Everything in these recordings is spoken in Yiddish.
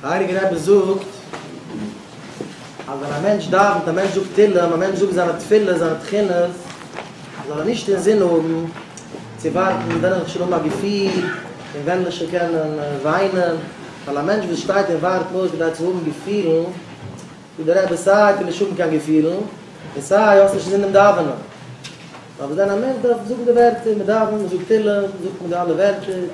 דער הייליגער רבי זאגט אז ווען א מענטש דאווענט, א מענטש זאגט תהילים, א מענטש זאגט זיינע תפילות, זיינע תחינות, זאל ער נישט אינזין האבן צו ווארטן ווען וועל איך שוין האבן א געפיל און ווען וועל איך שוין קענען וויינען, ווייל א מענטש וואס שטייט און ווארט נאר כדי צו האבן געפילן, זאגט דער רבי, סיי טו נישט האבן קיין געפילן, און סיי האסט נישט אינזין דעם דאווענען. ווייל וואס דען א מענטש דארף זאגן די ווערטער, מען דאווענט, מען זאגט תהלים, זאגט מען די אלע ווערטער,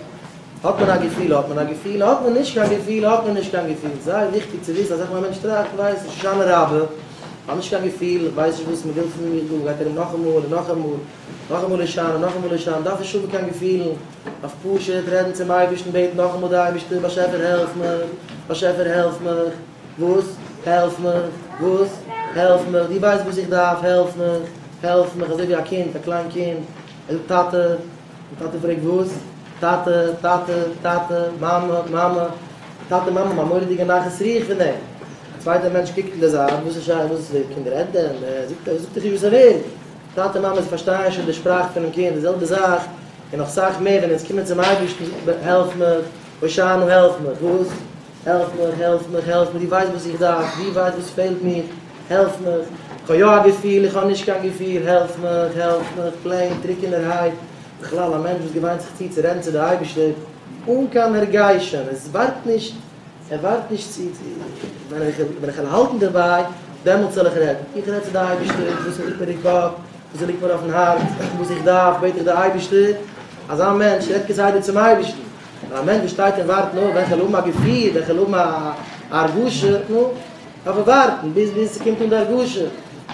האט מען א געפיל, האט מען א געפיל, האט מען נישט קיין געפיל, האט מען נישט קיין געפיל, זייער וויכטיג צו וויסן, אזעלכע ווי א מענטש טראכט, ווייסט נישט, הושענא רבה, האט נישט קיין געפיל, ווייסט נישט וואס מען וויל פון מיר דא, גייט ארום נאכאמאל און נאכאמאל, נאכאמאל הושענא, נאכאמאל הושענא, דארף נישט האבן קיין געפילן, דארף פשוט רעדן צום אייבערשטן, בעטן נאכאמאל די אייבערשטער, באשעפער העלף מיר, באשעפער העלף מיך. וואס? העלף מיך! וואס? העלף מיך! דו ווייסט וואס איך דארף? העלף מיך! העלף מיך! אזוי ווי א קינד, א קליין קינד, ער זאגט טאטע, און טאטע פרעגט וואס? טאטע, טאטע, טאטע, מאמע, מאמע, טאטע, מאמע, מיין מורא'דיגע נחת רוח פון דעם! א צווייטער מענטש קוקט אין די זייט, וואס איז שייך? וואס די קינד רעדט דען? ער זאגט ער זאגט דיך נישט וואס ער וויל! טאטע, מאמע, זיי פארשטייען שוין די שפראך פונעם קינד, די זעלבע זאך, און נאך סאך מער, ווען אונז קומען צום אייבערשטן, זאגט מען, העלף מיך! הושענא, העלף מיך! וואס? העלף מיך, העלף מיך, העלף מיך, דו ווייסט וואס איך דארף, דו ווייסט וואס פעלט מיר, העלף מיך, כ'האב יא א געפיל, איך האב נישט קיין געפיל, העלף מיך, העלף מיך, פלעין טרוקענערהייט, בכלל א מענטש וואס געוויינט זיך צו צו רעדן צו די אייבערשטער אן קיין הרגשים, עס ווארט נישט, ער ווארט נישט צו, ווען איך וועל האלטן דערביי, דעמאלטס זאל איך רעדן, איך רעד צו די אייבערשטער וואס ליגט מיר אין קאפ, וואס ליגט מיר אויפן הארץ, וואס איך דארף, בעט איך די אייבערשטער, אזא מענטש רעדט כסדר צום אייבערשטן. ווען א מענטש שטייט און ווארט, נו, וועלכע זאל האבן א געפיל, וועלכע זאל האבן א הרגשה, נו, דארף ער ווארטן ביז ביז ס'קומט אן די הרגשה.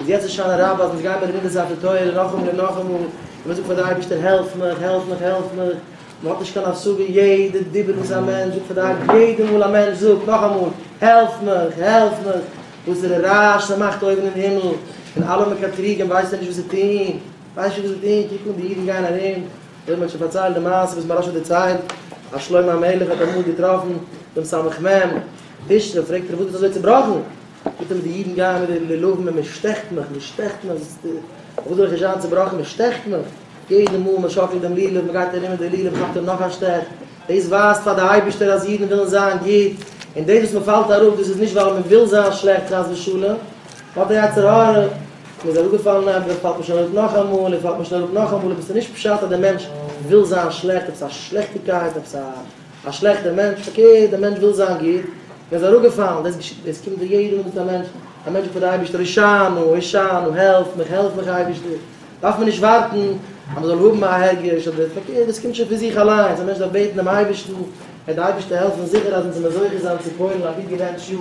איז יעצט הושענא רבה אז אונז גיימער לומדים די ספר תורה נאכאמאל און נאכאמאל, און מ'זאגט פאר דער אייבערשטער העלף מיך, העלף מיך, העלף מיך, מ'האט נישט קיין השגה יעדע דיבור וואס א מענטש זאגט פאר די אייבערשטער, יעדע מאל א מענטש זאגט נאכאמאל העלף מיך, העלף מיך, וואסערע רעש ס'מאכט אויבן אין הימל, און אלע מקטריגים ווייסן נישט וואס צו טון. ווייסט נישט וואס זיי טוען? קוק אן די אידן גייען ארום, אויב מ'האט שוין פארציילט די מעשה וואס מהרש א דערציילט, אז שלמה המלך האט אמאל געטראפן דעם סמ מ ווישניו, פרעגט ער אים וואס ביסטו אזוי צעבראכן? זאגט אים די אידן גייען מיט די לולבים און מען שטעכט מיך, מען שטעכט מיך, אויף וואס זאל איך נישט זיין צעבראכן, מען שטעכט מיך, יעדע מאל מען שאקלט דעם לולב, מען גייט ארום מיט די לולב, כאפט ער נאך א שטעך, דאס ווייזט פאר די אייבערשטער אז אידן ווילן זיין גוט, און דאס וואס מען פאלט אראפ דאס איז נישט ווייל מען וויל זיין שלעכט חס ושלום, האט א יצר הרע. מען איז אראפגעפאלן עפעס עס פאלט נישט אראפ נאכאמאל עס פאלט נישט אראפ נאכאמאל אבער עס איז נישט פשט אז דער מענטש וויל זיין שלעכט עפעס א שלעכטיגקייט עפעס א שלעכטער מענטש פארקערט דער מענטש וויל זיין גוט מען איז אראפגעפאלן דאס געשעט דאס קומט ווי יעדע מינוט א מענטש א מענטש בעט דער אייבערשטער הושענא הושענא העלף מיך העלף מיך אייבערשטער דארף מען נישט ווארטן אז מען זאל האבן א הרגש אדער פארקערט דאס קומט שוין פון זיך אליינס א מענטש דארף בעטן דעם אייבערשטן וועט דער אייבערשטער העלפן זיכער אז אונז זעמיר זוכה זיין צו פועל'ן א גוט געווענטשט יאר.